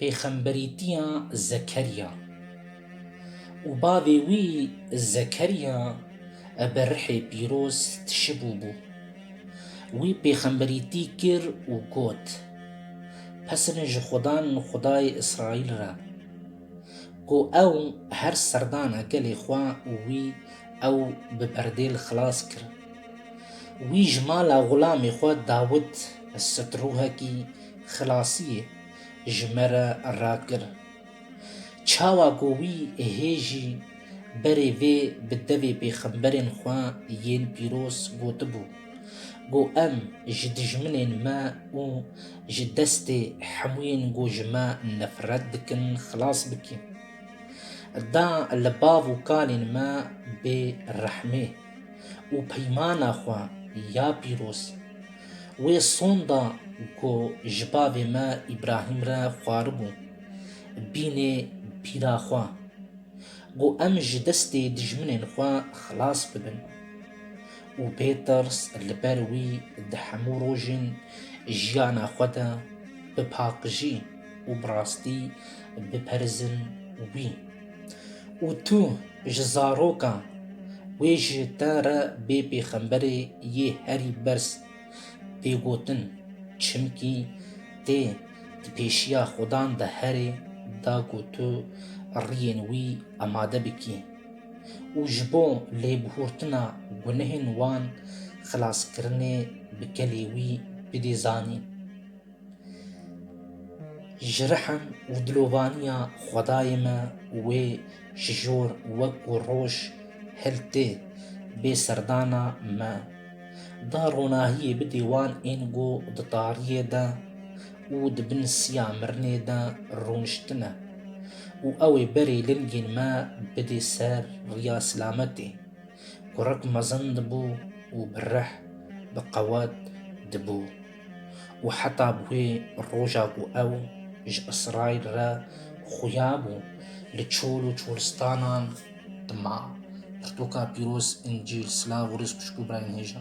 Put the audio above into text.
Pêxemberîtiya Zekerya û bavê wî Zekerya bi rihê pîroz tişibû bû. Wî pêxemberîtî kir û got, Pesine ji Xudan Xudayê Îsraîl re, ku ew her serdana gelê xwe û wî ew bi berdê li xilas kir. Wî ji mala xulamê xwe Dawid sitruhekî xilasiyê. ji me re rakir. Çawa ku wî hê jî berê vê bi devê pêxemberên xwe yên pîroz gotibû, Go em ji dijminên me û ji destê hemûyên ku ji me nefret dikin xilas bikîm. Da li bav û kalên me bê rehmê û peymana xwe ya pîroz. Wê sonda ku ji bavê me Îbrahîm re xwaribû, bînê bîra xwe, ku em ji destê dijminên xwe xilas bibin û bê tirs li ber wî di hemû rojên jiyana xwe de bi paqijî û bi rastî biperizin wî. Û tu ji zaroka wê ji te re bê pêxemberê yê herî berz tê gotin, çimkî tê di pêşiya Xwedan de herê da ku tu riyên wî amade bikî û ji bo lêbihurtina gunehên wan xilaskirinê bi kelê wî bidê zanîn. Ji rihim û dilovaniya xwedayê me wê ji jor wek ku roj hil tê bê serdana me da ronahiyê bidê wan ên ku di tariyê de û di bin siya mirinê de rûniştine û ew ê berê lingên me bidê ser riya silametê ku rek mezin dibû û bi rih bi qewet dibû. û heta bi wê roja ku ew ji Îsraîl re xuya bû li çol û çolistanan dima. Pirtoka pîroz, Încîl, silav û rêz xwişk û birayên hêja.